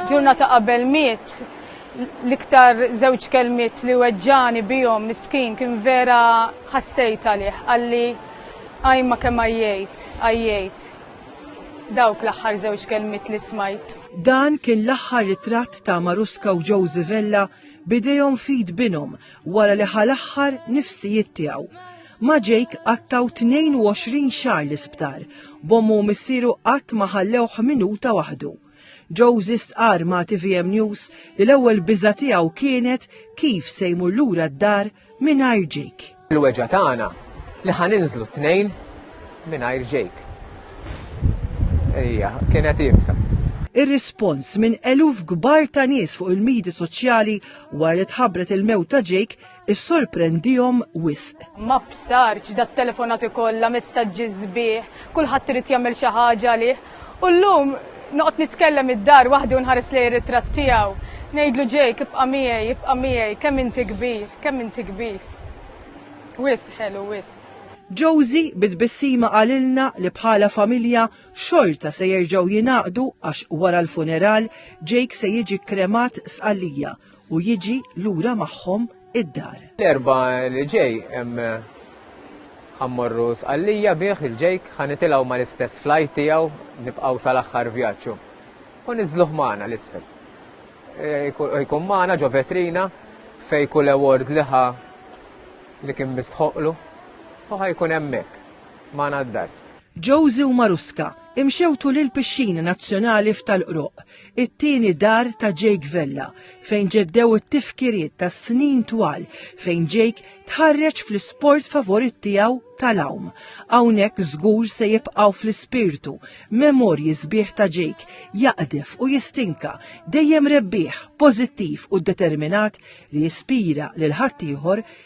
Ġurnata qabel miet, l-iktar żewġ kelmiet li weġġani bihom miskin kien vera ħassejt għalih, għalli għajma kemm għajjejt, għajjejt. Dawk l-aħħar żewġ kelmiet li smajt. Dan kien l-aħħar ritratt ta' Maruska u Josie Vella b'idejhom f'id binhom wara li ħa l-aħħar nifsijiet tiegħu. Ma' Jake qattgħu 22 xahar l-isptar, b'ommu u missieru qatt ma ħallewh minuta waħdu. Josie stqarr ma' tvm News li l-ewwel biża' tiegħu kienet kif se jmur lura d-dar mingħajr Jake. Il-weġgħa tagħna li ħa ninżlu t-tnejn mingħajr Jake. Ejja, kienet ibsa. Ir-rispons minn eluf kbar ta' nies fuq il-midi soċjali Wara li tħabbret il-mewt ta' Jake, issorprendihom wisq. Ma bsartx dat-telefonati kollha, messaġġi sbieħ, kulħadd irid jagħmel xi ħaġa għalih. U llum noqgħod nitkellem id-dar waħdi u nħares lejn ir-ritratt tiegħu. Ngħidlu Jake ibqa' miegħi, ibqa' miegħi, kemm inti kbir, kemm inti kbir. Wisq ħelu, wisq. Josie bi tbissima qalilna li bħala familja xorta se jerġgħu jingħaqdu għax wara l-funeral Jake se jiġi kremat sqallija u jiġi lura magħhom id-dar. L-erba li ġej ħammorru sqallija bih il-Jake ħanitilgħu mal-istess flajt tiegħu nibqgħu sal-aħħar vjaġġu. U niżluh magħna l-isfel. E, jkun magħna ġo vetrina fej kull award liħa li kien mistħoqlu u ħajkun hemmhekk magħna d-dar. Josie u Marusca imxew tul il-pixxina nazzjonali f'Tal-Qroqq, it-tieni dar ta' Jake Vella, fejn ġeddew it-tifkiriet ta' snin twal fejn Jake tħarreġ fl-isport favorit tiegħu tal-għawm. Hawnhekk żgur se jibqgħu fl-ispirtu memorji sbieħ ta' Jake jaqdef u jistinka, dejjem rebbieħ, pożittiv u determinat li jispira lil ħaddieħor